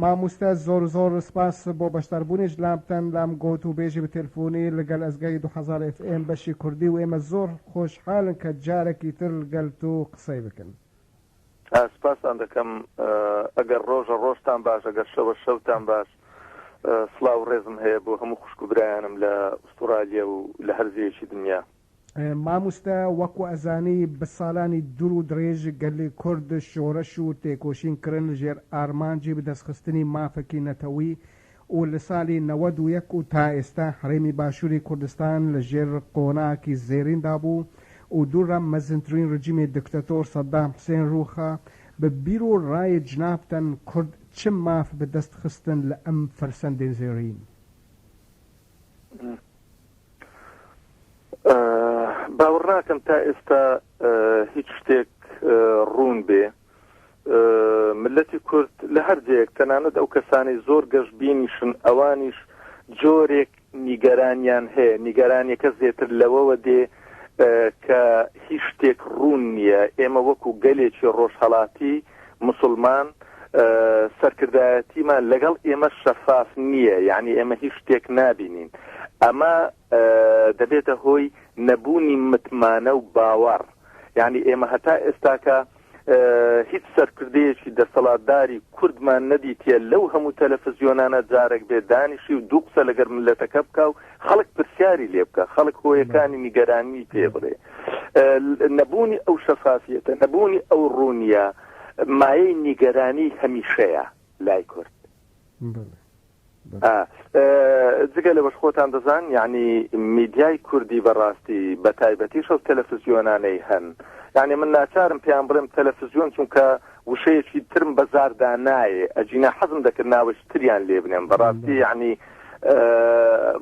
ماموستا زۆر زۆر سپاس بۆ بەشدار بونیش لامتان لام گۆت و بێژی بە تێلفونی لگەل ئەزگای دوو هەزار ئێف ئێم بەشی کوردی و ئێمە زۆر خۆش حالن کە جارەکی تر لگەل تو قسەی بکن. سپاستان دەکەم ئەگەر ڕۆژە ڕۆژتان باش ئەگەر شەوە شەوتان باش سڵاو ڕێزم هەیە بۆ هەموو خوشک و برایانم لە ئوستوڕالیا و لە هەر جێیەکی دنیا. ماموستا وەکو ئەزانی بە سالانی دور و درێژ گەلی کورد شۆرەش و تێکۆشین کرن ژێر ئارمانجی بەدەست خستنی مافەکی نەتەوی و لە سالی نەوەد و یەک و تا ئێستا هەرێمی باشوری کوردستان لە ژێر قۆناکی زێرین دا بو و دور لە مەزنترین رجیمی دکتەتۆر سەدام حسێن روخا بە بیر و رای جنابتان کورد چ ماف بەدەست خستن لە ئەم فەرسەندەی زێرین؟ باوەڕ ناکەم تا ئێستا هیچ شتێک ڕوون بێ ملەتی کورد لە هەر جەیەک تەنانەت ئەو کەسانی زۆر گەشت بینیشن ئەوانیش جۆرێک نیگەرانیان هەیە نیگەرانیەکە زێتر لەوەوە دێ کە هیچ شتێک ڕوون نییە ئێمە وەکو گەلێکی ڕۆژهڵاتی موسڵمان سەرکردایەتیمان لەگەڵ ئێمە شەفاف نییە یعنی ئێمە هیچ شتێک نابینین ئەمە دەبێتە هۆی نەبوونی متمانە و باوەڕ یعنی ئێمە هەتا ئێستاکە هیچ سەرکردەیەکی دەسەڵاتداری کوردمان نەدیتە لەو هەموو تەلەفزیۆنانە جارێک بێ دانیشی و دوو قسە لەگەر ملەتەکە بکە و خەڵک پرسیاری لێ بکە خەڵک هۆیەکانی نیگەرانی پێ بڵێ نەبوونی ئەو شەفافیەتە نەبوونی ئەو ڕوونیە مایەی نیگەرانی هەمیشەیە لای کورد جگە لەوەش خۆتان دەزان یعنی میدیای کوردی بەڕاستی بە تایبەتی شەو تەلەفزیۆنانەی هەن یعنی من ناچارم پێیان بڵێم تەلەفزیۆن چونکە وشەیەکی ترم بە زاردا نایێ ئەجینا حەزم دەکرد ناوەش تریان لێ بنێم بەڕاستی یعنی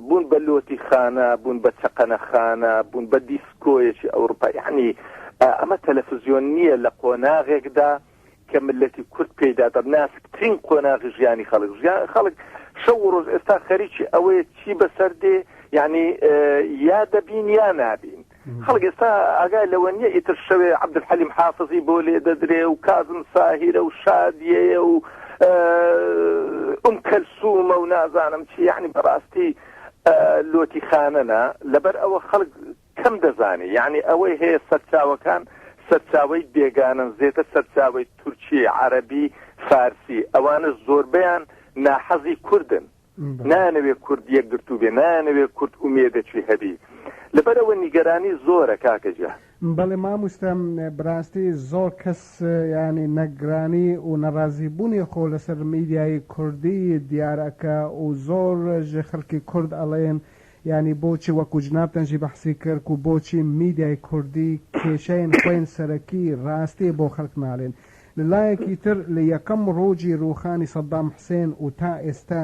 بوون بە لۆتی خانە بوون بە چەقەنە خانە بوون بە دیسکۆیەکی ئەوروپا یعنی ئەمە تەلەفزیۆن نییە لە قۆناغێکدا کە ملەتی کورد پێدا دەب ناسکترین قۆناغی ژیانی خەڵک ژیان خەڵک شەو ڕۆژ ئێستا خەریکی ئەوەیە چی بەسەر دێ یعنی یا دەبین یا نابین. خەڵک ئێستا ئاگای لەوە نییە ئیتر شەوێ عەبدولحەلیم حافزی بۆ لێ دەدرێ و کازم ساهیرە و شادیەیە و ئوم کەلسوومە و نازانم چی یعنی بەڕاستی لۆتی خانەنە لەبەر ئەوە خەڵک کەم دەزانی یعنی ئەوەی هەیە سەرچاوەکان سەرچاوی بێگانن زێتە سەرچاوی تورکی عەربی فارسی ئەوانە زۆربیان ناحەزی کوردن نایانەوێ کورد یەکگرتوو بێ نایانەوێ کورد ئومێدەکی هەبی لەبەرئەوە نیگەرانی زۆرە کاکە گیان. بەڵێ ماموستا بەراستی زۆر کەس یانی نگرانی و نەرازی بونی خۆ لەسەر میدیای کوردی دیار ئەکا و زۆر ژ خەلکی کورد ئەڵین یانی بۆچی وەکو جنابتان ژی بەحسی کرد کو بۆچی میدیای کوردی کێشەین خوین سەرەکی راستی بۆ خەلک نالین لە لایەکی تر لە یەکەم ڕۆژی ڕووخانی سەدام حسێن و تا ئێستا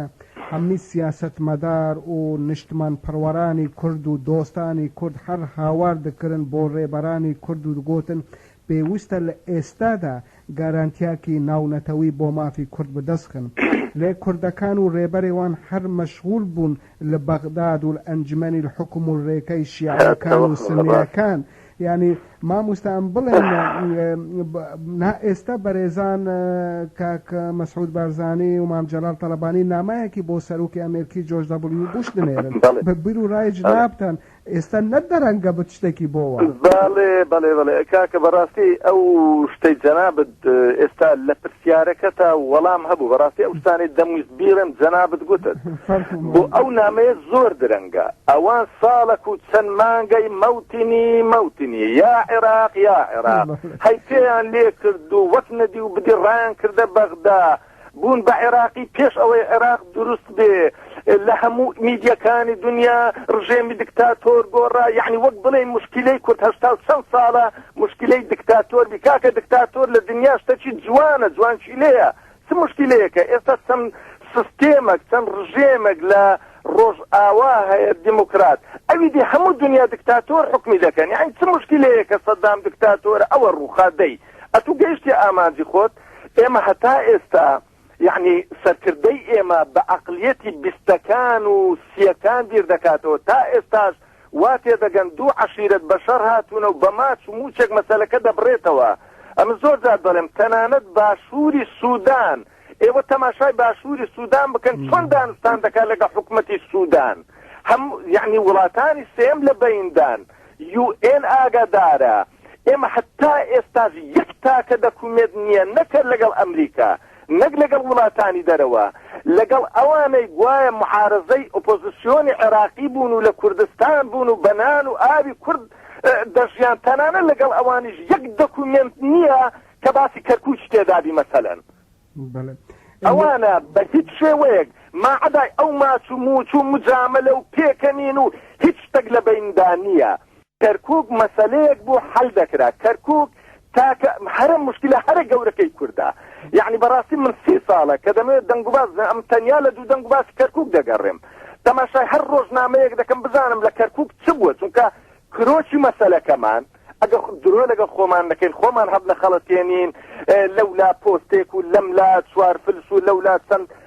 هەمووی سیاسەتمەدار و نیشتمانپەروەرانی کورد و دۆستانی کورد هەر هاوار دەکرن بۆ ڕێبەرانی کورد و دەگۆتن پێوستە لە ئێستادا گارانتیاکی ناونەتەوی بۆ مافی کورد بەدەست خن لێ کوردەکان و ڕێبەرێوان هەر مەشغول بوون لە بەغداد و ئەنجمەنی الحکم و رێکای شیعەکان و سونیەکان یانی ماموستا ئەم بڵێن نا ئێستا بەرێزان کاک مسعود بارزانی و مام جلال طلبانی نامایەکی بۆ سەرۆکی ئەمێرکی جۆرج دبلیو بوش دنێرن بە بیر و رای جنابتان ئێستا نە دەرەنگە بت شتێکی بۆ وا. بەڵێ بەڵێ بەڵێ کاکە بەڕاستی ئەو شتەی جەنابت ئێستا لە پرسیارەکەتا وەڵام هەبوو بەڕاستی ئەو شتانەی دەمویست بیڵێم جەنابت گوتت بۆ ئەو نامەیە زۆر درەنگە ئەوان ساڵەک و چەند مانگەی مەوتنی مەوتنی یا عێراق یا عێراق هەی پێیان لێ کرد و وەک نەدی و بدی ڕایان کردە بەغدا بوون بە عێراقی پێش ئەوەی عێراق دروست بێ لە هەموو میدیەکانی دنیا ڕژێمی دکتاتۆر گۆڕا یعنی وەک بڵێ مشکلەی کورد هەشتا و چەند ساڵە مشکلەی دکتاتۆر بی کاکە دکتاتۆر لە دنیا شتەکی جوانە جوانشی لێە چ مشکلەیەکە ئێستا چەند سستێمەک چەند ڕژێمێک لە ڕۆژ ئاوا هەیە دیموکرات ئەوی دی هەموو دنیا دکتاتۆر حکمی دەکەن یعنی چ مشکلەیەکە سەدام دکتاتۆر ئەوە ڕووخادەی ئەتو گەیشتی ئامانجی خۆت ئێمە هەتا ئێستا یەعنی سەرکردەی ئێمە بە ئەقلیەتی بیستەکان و سیەکان بیر دەکاتەوە تا ئێستاش وا تێدەگەن دوو عەشیرەت بە شەڕ هاتوونە و بە ماچ و مووچەک مەسەلەکە دەبڕێتەوە ئەمن زۆر جار دەڵێم تەنانەت باشووری سوودان ئێوە تەماشای باشووری سوودان بکەن چۆن دانوستان دەکات لەگە حکوومەتی سوودان هەم یعنی وڵاتانی سێم لە بەیندان یو ئێن ئاگادارە ئێمە هەتا ئێستاش یەک تاکە دەکومێت نیە نەک لەگەڵ ئەمریکا نەک لەگەڵ وڵاتانی دەرەوە لەگەڵ ئەوانەی گوایە معارەزەی ئۆپۆزسیۆنی عێراقی بوون و لە کوردستان بوون و بە نان و ئاوی کورد دەژیان تەنانە لەگەڵ ئەوانیش یەک دەکومێنت نیە کە باسی کەرکوکی تێدابی مەسەلەن. ئەوانە بە هیچ شێوەیەک ماعەدای ئەو ماچ و موچ و مجامەلە و پێکەنین و هیچ شتەک لە بەیندا نیە. کەرکوک مەسەلەیەک بوو حەل دەکرا کەرکوک تاکە هەرە مشکلە هەرە گەورەکەی کوردە یەعنی بەڕاستی من سی ساڵە کە دەمەوێت دەنگوباز ئەم تەنیا لە دوو دەنگ باسی کەرکوک دەگەڕێم تەماشای هەر ڕۆژنامەیەک دەکەم بزانم لە کەرکوک چ بووە چونکە کرۆکی مەسەلەکەمان ئەگە درۆ لەگە خۆمان نەکەین خۆمان هەب نەخەڵەتێنین لەولا پۆستێک و لەم لا چوار فلس و لەولا چەند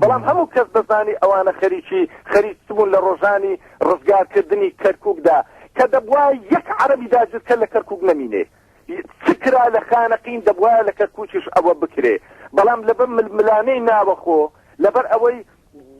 بەڵام هەموو کەس دەزانی ئەوانە خەریکی خەریکبوون لە ڕۆژانی ڕزگارکردنی کەرکوکدا کە دەبوایە یەک عەرەبی داگیرکەر لە کەرکوک نەمینێ چ کرا لە خانەقین دەبوایە لە کەرکوکیش ئەوە بکرێ بەڵام لەبەر ململانێی ناوەخۆ لەبەر ئەوەی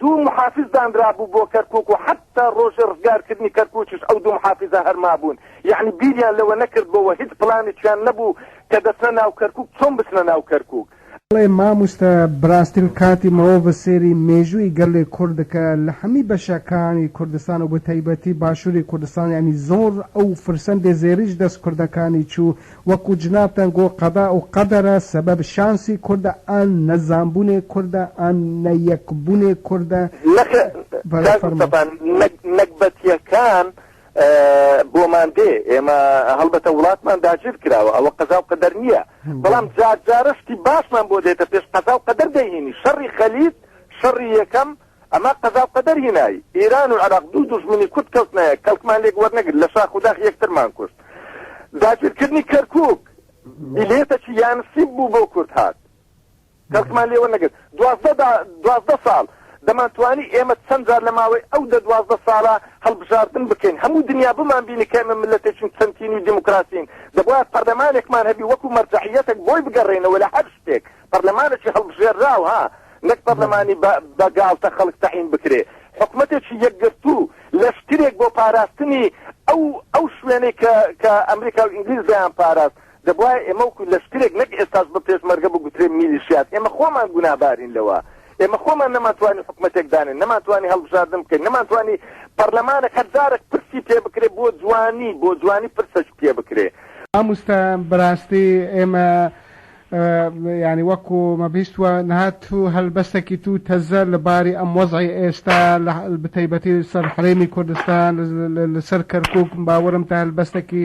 دوو محافز دانرابوو بۆ کەرکوک و حتا ڕۆژی ڕزگارکردنی کەرکوکیش ئەو دوو محافزە هەر مابوون یەعنی بیریان لەوە نەکردبۆوە هیچ پلانێکیان نەبوو کە دەچنە ناو کەرکوک چۆن بچنە ناو کەرکوک ئەڵێ ماموستا براستل کاتی مروڤ سێری مێژووی گەلی کورد دکە لە حەمی بەشە کانی کوردستان و بەتایبەتی باشوری کوردستان یانی زۆر ئەو فرسەندێ زێریش دەس کوردە کانی چو وەکو جنابتان گۆ قەدا و قەدەرە سەبەب شانسی کوردە ئان نە زانبونێ کوردە ئان نە یەک بونێ کوردە نەخێر کاک مستەفا نەگبەتیەکان بۆمان دێ ئێمە هەڵبەتە وڵاتمان داگیر کراوە ئەوە قەزا و قەدەر نییە بەڵام جار جارە شتی باشمان بۆ دێتە پێش قەزا و قەدەر دەهینی شەڕی خەلیت شەڕی یەکەم ئەمە قەزا و قەدەر هینایی ئێران و عراق دوو دوژمنی کورد کەوتنەیە کەڵکمان لێک وەرنەگر لە شاخ و داخ یەکترمان کوشت داگیرکردنی کەرکک بلێتەکی یانسی بوو بۆ کورد هات کەڵکمان لێ وەرنەگرت دوازدە دا دوازدە ساڵ دەمانتوانی ئێمە چەند جار لە ماوەی ئەو دە دوازدە ساڵە هەڵبژاردن بکەین هەموو دنیا بمانبینی کە ئێمە مللەتێکین چەند تینووی دیموکراسین دەبوایە پەرلەمانێکمان هەبی وەکوو مەرجەعیەتێک بۆی بگەڕێینەوە لە هەر شتێک پەرلەمانێکی هەڵبژێرراو ها نەک پەرلەمانی بە بە گاڵتە خەڵک تەعین بکرێ حکومەتێکی یەکگرتوو لەشکرێک بۆ پاراستنی ئەو ئەو شوێنەی کە کە ئەمریکا و ئینگلیز دەیانپاراست دەبوایە ئێمە وەکو لەشکرێک نەک ئێستاش بە پێشمەرگە بگوترێ میلیشیات ئێمە خۆمان گوناهبارین لەوە ئێمە خۆمان نەمانتوانی حکومەتێک دانێن نەمانتوانی هەڵبژاردن بکەین نەمانتوانی پەرلەمانێک هەر جارەک پرسی پێ بکرێ بۆ جوانی بۆ جوانی پرسەک پێ بکرێ. ماموستا بەراستی ئێمە یانی وەکو مەبیست وە نهات و هەلبەستەکی تو تەزە لە باری ئەم وەزعی ئێستا لە بتەیبەتی سەر حەرێمی کوردستان لە سەر کەرکوک باوەرم تە هەلبەستەکی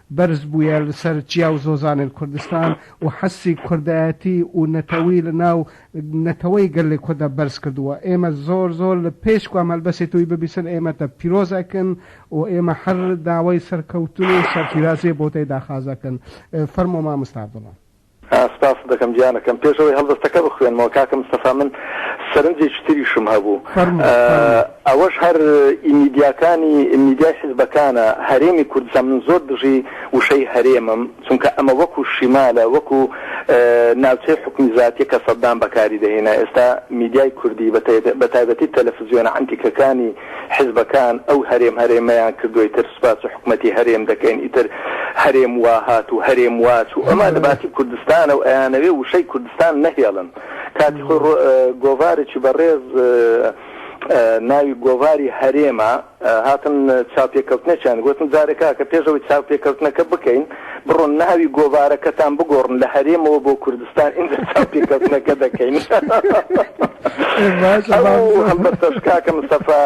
بەرز بویە لسەر جیا و زۆزانێل کوردستان و حەسی کوردایەتی و نەتەوی لە ناو نەتەوەی گەلێ کوردا بەرز کردوە. ئێمە زۆر زۆر لە پێش کوام هەلبەسێ توی ببیسن ئێمە تە پیرۆز ئەکن و ئێمە هەر داوای سەرکەوتن و سەرفیرازیێ بۆ تەی داخاز ئەکن. فەرموو ماموستا عەبدوڵا. سپاست دەکەم گیانەکەم. پێش ئەوەی هەڵبەستەکە بخوێنمەوە کاکە مستەفا من سەرنجێکی تریشم هەبوو. فەرموو فەرموو. ئەوەش هەر ی میدیاکانی میدیای حیزبەکانە هەرێمی کوردستان من زۆر دژی وشەی هەرێمم چونکە ئەمە وەکو شیمالە وەکو ناوچەی حوکمی زاتیە کە سەدام بەکاری دەهینا ئێستا میدیای کوردی بە تایبەتی تەلەفزیۆنە عەنتیکەکانی حزبەکان ئەو هەرێم هەرێمەیان کردوە ئیتر سوپاس حکومەتی هەرێم دەکەین ئیتر هەرێم واهات و هەرێم واچو ئەمە لەباتی کوردستانە و ئەیانەوێ وشەی کوردستان نەهێڵن کاتی خۆ گۆڤارێکی بەڕێز ناوی گۆڤاری هەرێمە هاتن چاپێکەوتنێکیان گوتن جارێکا کە پێشەوەی چاپێکەوتنەکە بکەین بڕۆن ناوی گۆڤارەکەتان بگۆڕن لە هەرێمەوە بۆ کوردستان ئینجا چاپی کەسنەکە دەکەین هەڵبەتەش کاکە مستەفا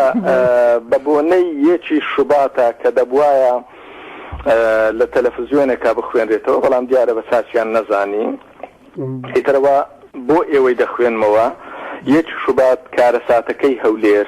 بە بۆنەی یەکی شوباتە کە دەبواە لە تەلەفزیۆنێکا بخوێنرێتەوە بەڵام دیارە بە چاچیان نەزانی ئیترەوە بۆ ئێوەی دەخوێنمەوە یەک شوبات کارەساتەکەی هەولێر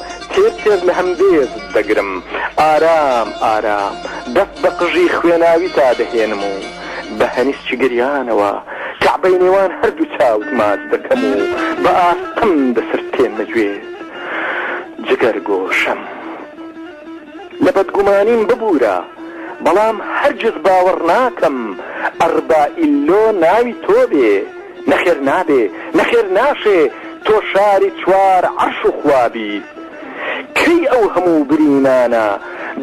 تێر تێر لە هەمبێزت دەگرم ئارام ئارام دەست بە قژی خوێناویتا دەهێنم و بە هەنیسکی گریانەوە کەعبەی نێوان هەردوو چاوت ماچ دەکەم و بە ئاستەم دەسرتێنمە گوێت جگەر گۆشەم لە بەدگومانیم ببورە بەڵام هەرگیز باوەڕ ناکەم ئەڕبائیللۆ ناوی تۆ بێ. نەخێر نابێ نەخێر ناشێ تۆ شاری چوار عەرش و خوا بیت کەی ئەو هەموو برینانە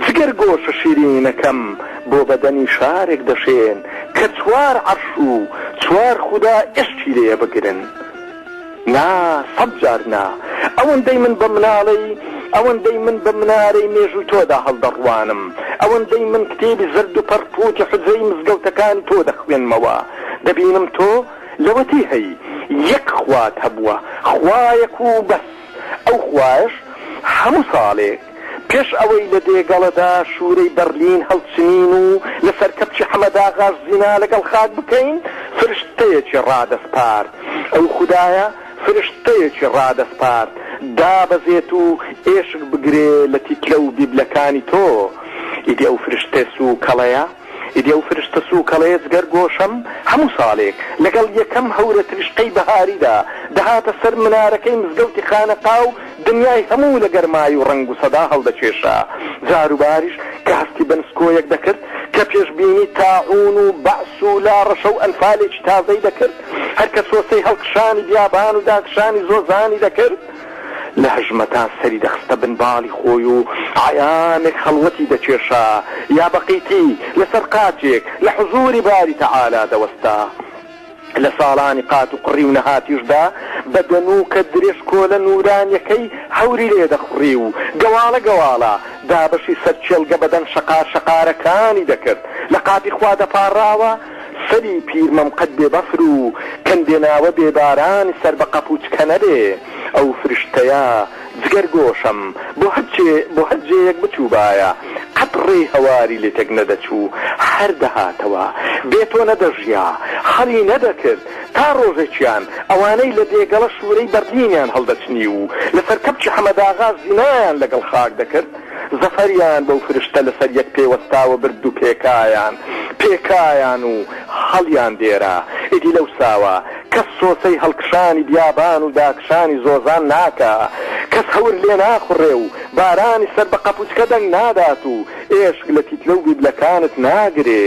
جگەر گۆشە شیرینەکەم بۆ بەدەنی شارێک دەشێن کە چوار عەرش و چوار خودا ئێشکی لێ بگرن نا سەد جار نا ئەوەندەی من بە مناڵەی ئەوەندەی من بە منارەی مێژووی تۆدا هەڵدەڕوانم ئەوەندەی من کتێبی زەرد و پەڕپووتی حوجرەی مزگەوتەکانی تۆ دەخوێنمەوە دەبینم تۆ لەوەتی هەی یەک خوات هەبووە خوایەک و بەس ئەو خوایەش هەموو ساڵێک پێش ئەوەی لە دێگەڵەدا شوورەی بەرلین هەڵچنین و لەسەر کەپچی حەمەداغاش زینا لەگەڵ خاک بکەین فرشتەیەکی ڕادەسپارد ئەو خودایە فرشتەیەکی ڕادەسپارد دابەزێت و ئێشک بگرێ لە تیتلە و بیبلەکانی تۆ ئیدی ئەو فرشتە سووکەڵەیە ئیدی ئەو فرشتە سووکەڵەیە جگەر گۆشەم هەموو ساڵێک لەگەڵ یەکەم هەورە تریشقەی بەهاریدا دەهاتە سەر منارەکەی مزگەوتی خانەقا و دنیای هەموو لە گەرمای و ڕەنگ و سەدا هەڵدەکێشا جاروباریش کە هەستی بە نسکۆیەک دەکرد کە پێشبینی تاعوون و بەعس و لاڕەشە و ئەنفالێکی تازەی دەکرد هەر کە سۆسەی هەڵکشانی بیابان و داکشانی زۆزانی دەکرد لە هەژمەتا سەری دەخستە بن باڵی خۆی و عەیامێک خەڵوەتی دەکێشا یا بە قیتی لە سەر قاچێک لە حزووری باری تەعالا دەوەستا. لە ساڵانی قات و قڕی و نەهاتیشدا بە دەنووکە درێژکۆلە نوورانیەکەی هەوری لێ دەخوڕی و گەواڵە گەواڵە دابەشی سەر کێڵگە بەدەن شەقار شەقارەکانی دەکرد لە قاپی خوا دەپاڕاوە سەری پیرمەم قەت بێ بەفر و کەندێ ناوە بێ باران سەر بە قەپووچ کە نەبێ ئەو فرشتەیە جگەر گۆشەم بۆ هەر چێ بۆ هەر جێیەک بچووبایە قەت ڕێی هەواری لێ تێک نەدەچوو هەر دەهاتەوە بێ تۆ نەدەژیا خەڵی نەدەکرد تا ڕۆژێکیان ئەوانەی لە دێگەڵە شوورەی بەرلینیان هەڵدەچنی و لە سەر کەپچی حەمەداغا زینایان لە گەڵ خاک دەکرد زەفەریان بەو فرشتە لەسەر یەک پێوەستاوە برد و پێکایان پێکایان و هەڵیان دێرا. ئیدی لەوساوە کەس سۆسەی هەڵکشانی بیابان و داکشانی زۆزان ناکا، کەس هەور لێ ناخوڕێ و بارانی سەر بە قەپوچکە دەنگ نادات و ئێشک لە تیتلە و بیبلەکانت ناگرێ.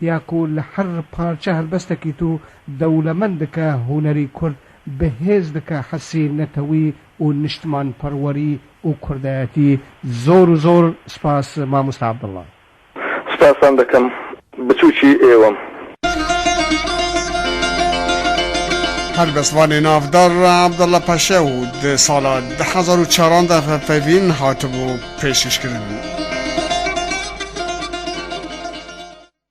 یاکو لە هەر پارچە هەلبەستەکی تو دەولەمەند دکە هونەری کورد بەهێز دکە حەسی نەتەوی و نشتمان پەروەری و کوردایەتی زۆر و زۆر سپاس ماموستا عبداللە. سپاستان دەکەم بچوکی ئێوەم. هەر بە زبانی ناڤدار عەبدەڵە پەشێو و دە ساڵە دە هەزار و چاران دە ڤە پەیڤین هاتبوو پێشکەشکرن.